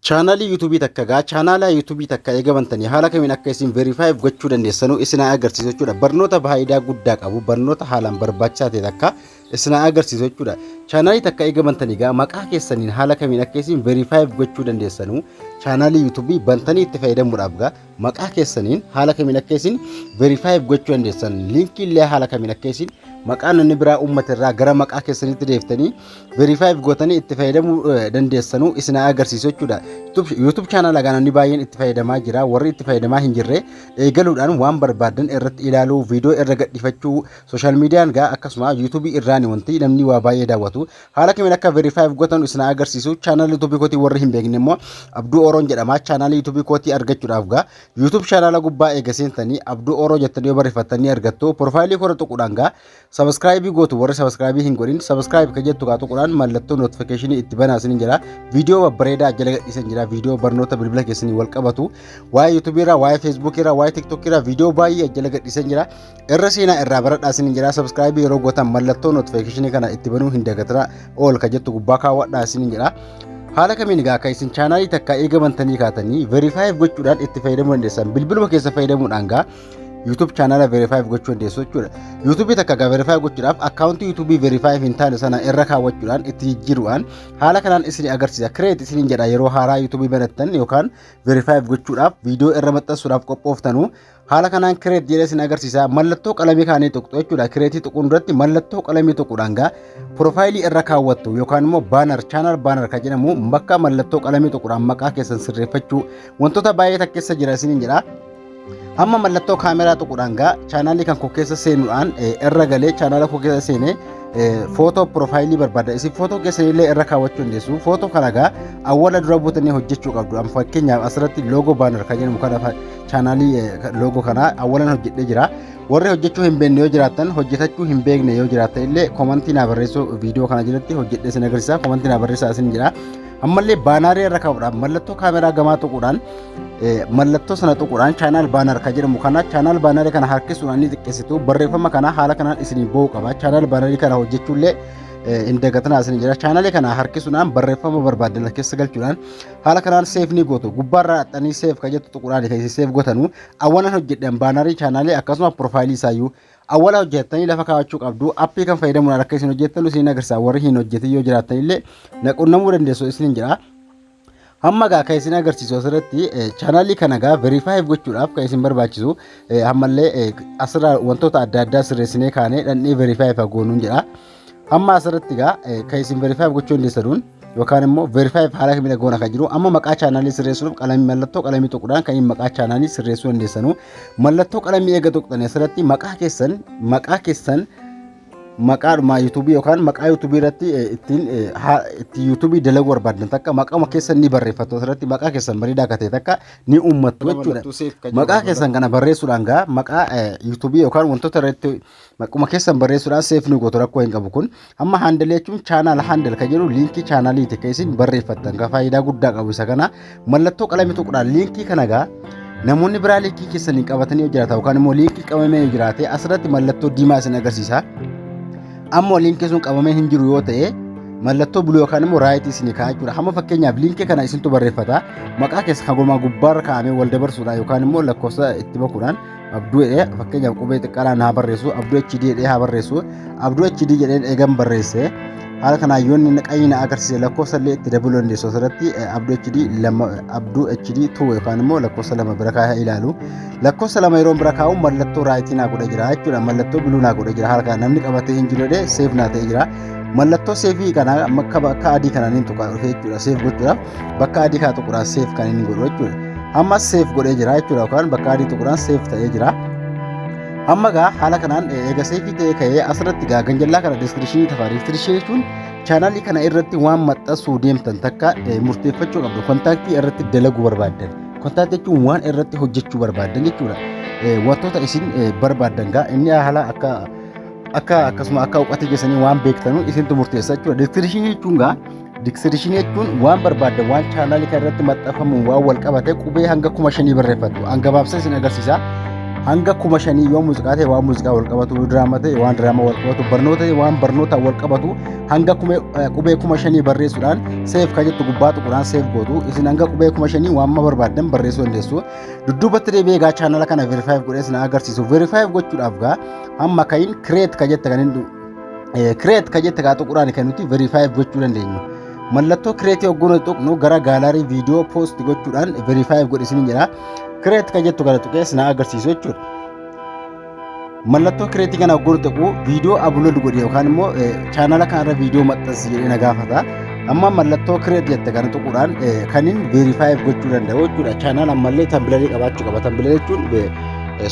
Chaanaalii YouTube takka gaa chaanaalaa YouTube takka eega bantanii haala kamiin akka isin verify gochuu dandeessanuu isin haa agarsiisu jechuudha. Barnoota faayidaa guddaa qabu barnoota haalaan barbaachisaa ta'e takka isin haa agarsiisu jechuudha. Chaanaalii takka eega bantanii gaa maqaa keessaniin haala kamiin akka isin verify gochuu dandeessanuu chaanaalii YouTube bantanii itti fayyadamuudhaaf gaa Maqaa keessaniin haala kamiin akka isin verify gochuu dandeessan liinkii illee haala kamiin akka isin maqaa namni biraa uummata irraa gara maqaa keessaniitti deeftanii verify gootanii itti fayyadamuu dandeessanuu isin agarsiisu jechuudha. YouTube channel agaa namni baay'een itti fayyadamaa jira warri itti fayyadamaa hin jirre eegaluudhaan waan barbaadan irratti ilaaluu viidiyoo irra gadhifachuu social mediaan gaa akkasuma YouTube irraan wanti namni waa baay'ee daawwatu Haala kamiin akka verify gootan isin agarsiisu channel YouTube kootii warri hin beekne immoo Abduu Oroon jedhama channel YouTube kootii argachuudhaaf gaa YouTube channel gubbaa eega seentanii Abduu Oroo jettanii yoo barreeffattanii argattu profile kora tuquudhaan gaa subscribe gootu warri subscribe hin godhin subscribe kan jettu gaa tuquudhaan mallattoo notification itti banaa isin jira viidiyoo babbareedaa jala gadhiisan jira viidiyoo barnoota bilbila keessanii wal qabatu waa'ee YouTube irraa waa'ee Facebook irraa waa'ee TikTok irraa viidiyoo baay'ee jala gadhiisan jira Irra seenaa irraa baradhaa isiniin jedhaa sabskraayibii yeroo gootan mallattoo notifikashinii kana itti banuu hin dagatinaa ol ka jettu gubbaa kaawwadhaa isiniin jedhaa. Haala kamiin egaa akka isin chaanaalii takka eega bantanii kaatanii verifaayiif gochuudhaan itti fayyadamuu dandeessan bilbiluma keessa fayyadamuudhaan gaa YouTube chaanaala verifaayiif gochuu dandeessu jechuudha. YouTube takka gaa verifaayiif gochuudhaaf akkaawuntii YouTube verifaayiif hin taane sana irra kaawwachuudhaan itti jijjiiruudhaan haala kanaan isin agarsiisa. Kireet isin jedha yeroo haaraa YouTube banattan yookaan verifaayiif gochuudhaaf viidiyoo irra maxxansuudhaaf qophooftanuu Haala kanaan kireet jedhee isin agarsiisa. Mallattoo qalamii kaanii tuqxu jechuudha. Kireetii tuquun duratti mallattoo qalamii tuquudhaan gaa piroofaayilii irra kaawwattu yookaan immoo baanar chaanaal baanar kan jedhamu bakka mallattoo qalamii tuquudhaan maqaa keessan sirreeffachuu wantoota baay'ee takkeessa jira isiniin jedha. Hamma mallattoo kaameraa tuquudhaan gaa chaanaalii kan koo keessa seenuudhaan irra galee chaanaala koo keessa seenee footoo piroofaayilii barbaada. Isin footoo keessanillee irra kaawwachuu dandeessu. Footoo kana gaa awwala dura buutanii hojjechuu qabdu. Fakkeenyaaf asirratti loogoo baanar kan jedhamu kana chaanaalii loogo kanaa awwalan hojjedhee jira. Warri hojjechuu hin beekne yoo jiraattan hojjetachuu hin beekne yoo jiraattan illee komantii naa barreessuu viidiyoo kana jalatti hojjedhee isin agarsiisa komantii naa barreessaa isin jira. Ammallee baanaarii irra kaa'uudhaan mallattoo kaameraa gamaa tuquudhaan mallattoo sana tuquudhaan chaanaal baanaar kan jedhamu kana chaanaal baanaarii kana harkisuudhaan ni xiqqeessitu barreeffama kana haala kanaan isin ba'uu qaba chaanaal baanaarii kana hojjechuullee hin dagatinaa isin jira chaanaalii kana harkisuudhaan barreeffama barbaaddan keessa galchuudhaan haala kanaan seef ni gootu gubbaarraa haxxanii seef kan jettu tuqudhaan kan isin seef gootanu awwalan hojjedhan baanarii chaanaalii akkasuma piroofaayilii isaayyuu awwala hojjettanii lafa kaawachuu qabdu appii kan fayyadamuudhaan akka isin hojjettanu isin agarsiisa warri hin hojjetin yoo jiraattan illee naqunnamuu dandeessu isin jedha hamma gaa kan isin agarsiisu asirratti chaanaalii kana gaa veriifaayiif gochuudhaaf kan isin barbaachisu ammallee asirraa wantoota adda addaa sirreessinee kaanee dhandhee veriifaayiif hagoonuun jedha. Amma asirratti egaa kan isin verify gochuu dandeessanuun yookaan immoo verify haala kamiin goona kan jiru amma maqaa chaanaalii sirreessuuf qalamii mallattoo qalamii tuquudhaan kan maqaa chaanaalii sirreessuu dandeessanu mallattoo qalamii eega tuqxan asirratti maqaa keessan maqaa keessan maqaadhuma yuutuubii yookaan maqaa yuutuubii irratti ittiin itti yuutuubii dalaguu barbaadan takka maqaa keessan ni barreeffattu asirratti maqaa keessan bareedaa akka ta'e takka ni uummattu jechuudha. Maqaa keessan kana barreessuudhaan gaa maqaa yuutuubii yookaan wantoota irratti Maquma keessan barreessuudhaan seef nu gootu rakkoo hin qabu kun. Amma handle jechuun chaanaal handle kan jedhu liinkii chaanaaliiti kan isin barreeffattan kan faayidaa guddaa qabu isa kana. Mallattoo qalamii tuqudhaan liinkii kana gaa namoonni biraa liinkii keessan hin qabatanii yoo jiraata yookaan immoo liinkii qabamee yoo jiraate asirratti mallattoo diimaa isin agarsiisa. Ammoo liinkii sun qabamee hin jiru yoo ta'e mallattoo buluu yookaan immoo raayitii isin kaa'aa jechuudha. Hamma fakkeenyaaf liinkii kana isintu barreeffata. Maqaa keessa haguma gubbaarra kaa'amee wal dabarsuudhaan yookaan immoo lakkoofsa itti bakuudhaan Abduu jedhee fakkeenyaaf qubee xiqqaadhaan haa barreessu abduu HD jedhee haa barreessu abduu HD jedheen eegan barreesse haala kanaan yoo inni qayyina agarsiise lakkoofsa illee itti dabaluu dandeessu asirratti abduu HD lama abduu HD tuu yookaan immoo lakkoofsa lama bira kaa'ee ilaalu lakkoofsa lama yeroo bira kaa'u mallattoo raayitii naa godha jira jechuudha mallattoo biluu naa godha jira haala kanaan namni qabatee hin jiru jedhee seef naa ta'e jira mallattoo seefii kana akka adii kanaan hin tuqaa dhufee jechuudha seef gochuudhaaf bakka adii kana tuquraan seef kan inni godhu jechuudha. Ammas seef godhee jira jechuudha yookaan bakka adii tuquraan seef ta'ee jira. Amma gaa haala kanaan eega seefii ta'ee ka'ee asirratti gaa ganjallaa kana diskiripshinii tafa diskiripshinii jechuun chaanaalii kana irratti waan maxxansuu deemtan takka murteeffachuu qabdu kontaaktii irratti dalaguu barbaaddan. Kontaaktii jechuun waan irratti hojjechuu barbaaddan jechuudha. Wantoota isin barbaaddan gaa inni haala akka akka akkasuma akka hubattee keessanii waan beektanu isintu murteessa jechuudha. Diskiripshinii jechuun gaa Diksirishini jechuun waan barbaadda waan chaanaalii kana irratti maxxanfamuun waan wal qabate qubee hanga kuma shanii barreeffatu. An gabaabsee isin agarsiisa. Hanga kuma shanii yoo muuziqaa ta'e waan muuziqaa wal qabatu, yoo diraamaa ta'e waan diraamaa wal qabatu, barnoota ta'e waan barnootaan wal qabatu hanga kume- eh, qubee kuma shanii barreessuudhaan seef kan jettu gubbaa tuquudhaan seef gootu. Isin hanga qubee kuma shanii waan amma barbaaddan barreessuu dandeessu. Dudduubatti deebi'ee egaa chaanala kana verifaayiif godhee isin agarsiisu. Verifaayiif gochuudhaaf gaa amma ka'iin kireet kan jette kan hin kireet ka jette kaa tuquraan kan nuti veriifaayiif gochuu dandeenyu. Mallattoo kireetii hogguu nuti tuqnu gara gaalaarii viidiyoo poosti gochuudhaan veriifaayiif godhe isin jira. Kireet ka jettu kana tuqees na agarsiisu jechuudha. Mallattoo kireetii kana hogguu nuti tuqnu viidiyoo ablood godhe yookaan immoo chaanala kanarra viidiyoo maxxansi jedhee na gaafata. Amma mallattoo kireet jette kana tuquudhaan kanin veriifaayiif gochuu danda'u jechuudha. Chaanala ammallee tambilarii qabaachuu qaba. Tambilarii jechuun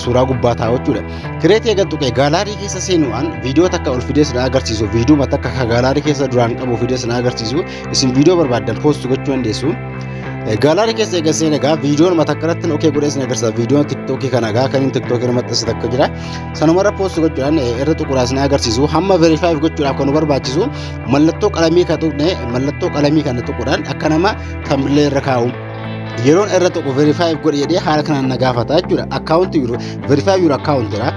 suuraa gubbaa taa'u jechuudha. Kireetii eega tuqee gaalaarii keessa seenuudhaan viidiyoo takka ol fidee sinaa agarsiisu viidiyoo takka ka gaalaarii keessa duraan qabu fidee sinaa agarsiisu isin viidiyoo barbaaddan poostu gochuu dandeessu. Gaalaarii keessa eega seenee egaa viidiyoon mata kanatti okee godhee isin agarsiisa viidiyoon tiktookii kana egaa kan inni tiktookii irra maxxanse takka jira. Sanumarra poostu gochuudhaan irra tuquudhaan sinaa agarsiisu hamma verifaayiif gochuudhaaf kan nu barbaachisu mallattoo qalamii kan tuqne mallattoo qalamii kana tuquudhaan akka nama tambilee irra kaa'u. yeroon irra tokko verify godhe jedhee haala kanaan na gaafata jechuudha akkaawunti verify jiru akkaawuntira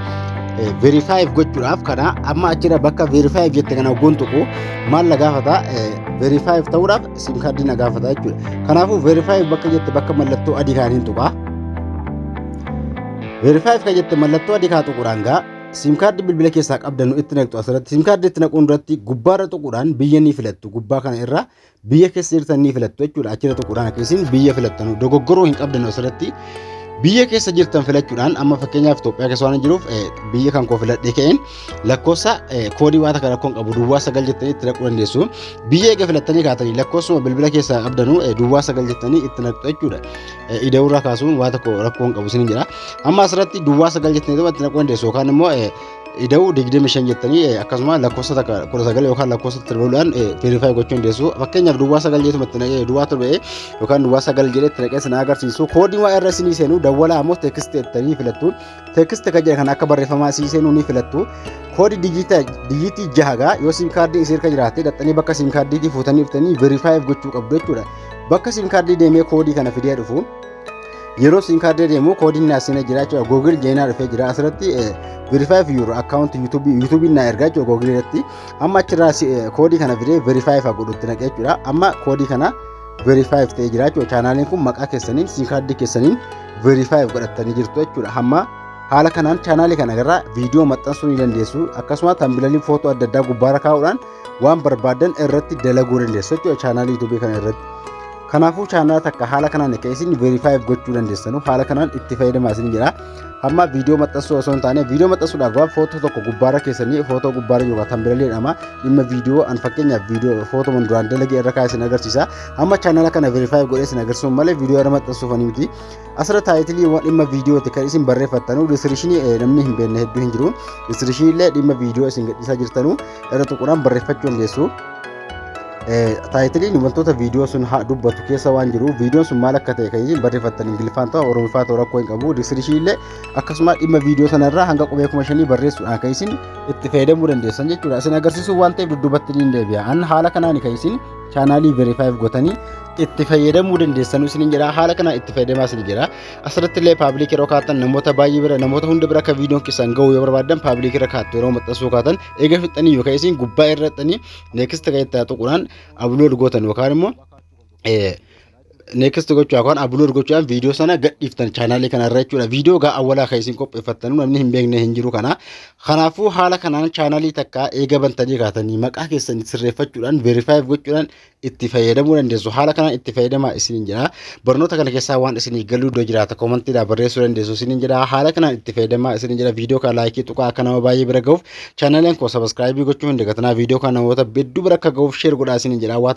verify gochuudhaaf kana amma achirra bakka verify jette kana goon tokko maal na gaafata verify ta'uudhaaf sim kaardii na gaafata jechuudha kanaafuu verify bakka jette bakka mallattoo adii kaaniin tuqa verify kan jette mallattoo adii kaa tuquudhaan gaa sim kaardii bilbila keessaa qabdannu itti naqxu asirratti sim kaardii itti naquun irratti gubbaarra tuquudhaan biyya ni filattu gubbaa kana irra biyya keessa jirtan ni filattu jechuudha achirra tuquudhaan akka isin biyya filattanu dogoggoruu hin qabdan asirratti biyya keessa jirtan filachuudhaan amma fakkeenyaaf Itoophiyaa keessa waan jiruuf biyya kan koo filadhee ka'een lakkoofsa koodii waan takka rakkoon qabu duwwaa sagal jettanii itti naquu dandeessu biyya eega filattanii kaatanii lakkoofsuma bilbila keessaa qabdanu duwwaa sagal jettanii itti naqxu jechuudha ida'uurraa kaasuun waan tokko rakkoon qabu isin jira amma asirratti duwwaa sagal jettanii itti naquu dandeessu yookaan immoo ida'uu 25 jettanii eh, akkasuma lakkoofsa takka 19 yookaan lakkoofsa tirbaluudhaan verify gochuu dandeessu fakkeenyaaf duwwaa 9 jeetu matti naqee duwwaa torba eh, yookaan duwwaa 9 jedhee itti naqee sana agarsiisu koodiin waa irra isinii seenu dawwalaa ammoo teekist jettanii filattu teekist kan jedhan kan akka barreeffamaa isii seenuu ni filattu koodii dijiitaa dijiitii jahagaa yoo siim kaardii isii irka jiraate dhaxxanii bakka siim kaardiitii fuutanii dhuftanii verify gochuu qabdu jechuudha bakka siim kaardii deemee koodii kana fidee dhufu Yeroo siin kaardii deemu koodiin naa seenee jira jechuudha. Google jeenaa dhufee jira asirratti verify fi yeroo akkaawunti yuutuubiin naa ergaa jechuudha Google irratti. Amma achirraa koodii kana fidee verify fi godhutti naqee jechuudha. Amma koodii kana verify fi ta'ee jira jechuudha. Chaanaaliin kun maqaa keessaniin siin kaardii keessaniin verify fi godhattanii jirtu jechuudha. Amma haala kanaan chaanaalii kana irraa viidiyoo maxxansuu ni dandeessu. Akkasumas tambilaliin footoo adda addaa gubbaarra kaa'uudhaan waan barbaadan irratti dalaguu dandeessu jechuudha chaanaalii yuutuubii kana irratti. Kanaafuu chaanaalaa takka haala kanaan akka isin verifaayiif gochuu dandeessanu haala kanaan itti fayyadamaa isin jedha. Amma viidiyoo maxxansuu osoo hin taane viidiyoo maxxansuudhaaf gaafa footoo tokko gubbaarra keessanii footoo gubbaarra yookaan tambireelii jedhama dhimma viidiyoo an fakkeenyaaf viidiyoo footoman duraan dalagee irra kaa'e isin agarsiisa. Amma chaanaala kana verifaayiif godhee isin agarsiisuun malee viidiyoo irra maxxansuuf ani miti. Asirra taayitiliiwwan dhimma viidiyooti kan isin barreeffattanu diskiripshinii namni hin beekne hedduu hin jiru. Diskiripshinii illee dhimma viidiyoo isin gadhiisaa jirtanu irra tuquudhaan barreeffachuu dandeessu. Taayitiliin wantoota viidiyoo sun haa dubbatu keessa waan jiru viidiyoon sun maal akka ta'e kan isin barreeffattan ingiliffaan ta'u oromiffaa ta'u rakkoo hin qabu diskiripshinii illee akkasuma dhimma viidiyoo sanarraa hanga qubee kuma shanii barreessuudhaan kan isin itti fayyadamuu dandeessan jechuudha. Isin agarsiisuu waan ta'eef dudduubatti ni deebi'a. An haala kanaan kan isin chaanaalii verifaayiif gotanii itti fayyadamuu dandeessanuu isiniin jedha haala kanaan itti fayyadamaa isin jira asirratti illee paabilik yeroo kaatan namoota baay'ee bira namoota hunda bira akka viidiyoon keessan ga'u yoo barbaadan paabilik irra kaattu yeroo maxxansuu kaatan eega fixxanii yookaan isin gubbaa irrattanii neekist kan itti tuquudhaan ablood gootan yookaan immoo next gochuu yookaan upload gochuudhaan viidiyoo sana gadhiiftan chaanaalii kana irra jechuudha. Viidiyoo gaa awwalaa kan isin qopheeffattan namni hin beekne hin jiru kana. Kanaafuu haala kanaan chaanaalii takka eega bantanii kaatanii maqaa keessan sirreeffachuudhaan verifaayiif gochuudhaan itti fayyadamuu dandeessu. Haala kanaan itti fayyadamaa isiniin jedha. Barnoota kana keessaa waan isinii galuu iddoo jiraata koomantiidhaan barreessuu dandeessu isiniin jedha. Haala kanaan itti fayyadamaa isiniin jedha. Viidiyoo kana laayikii tuqaa akka nama baay'ee bira gahuuf chaanaaliin koo sabaskiraayibii gochuu hin dagatinaa. Viidiyoo kana namoota hedduu bira akka gahuuf sheer godhaa isiniin jedha.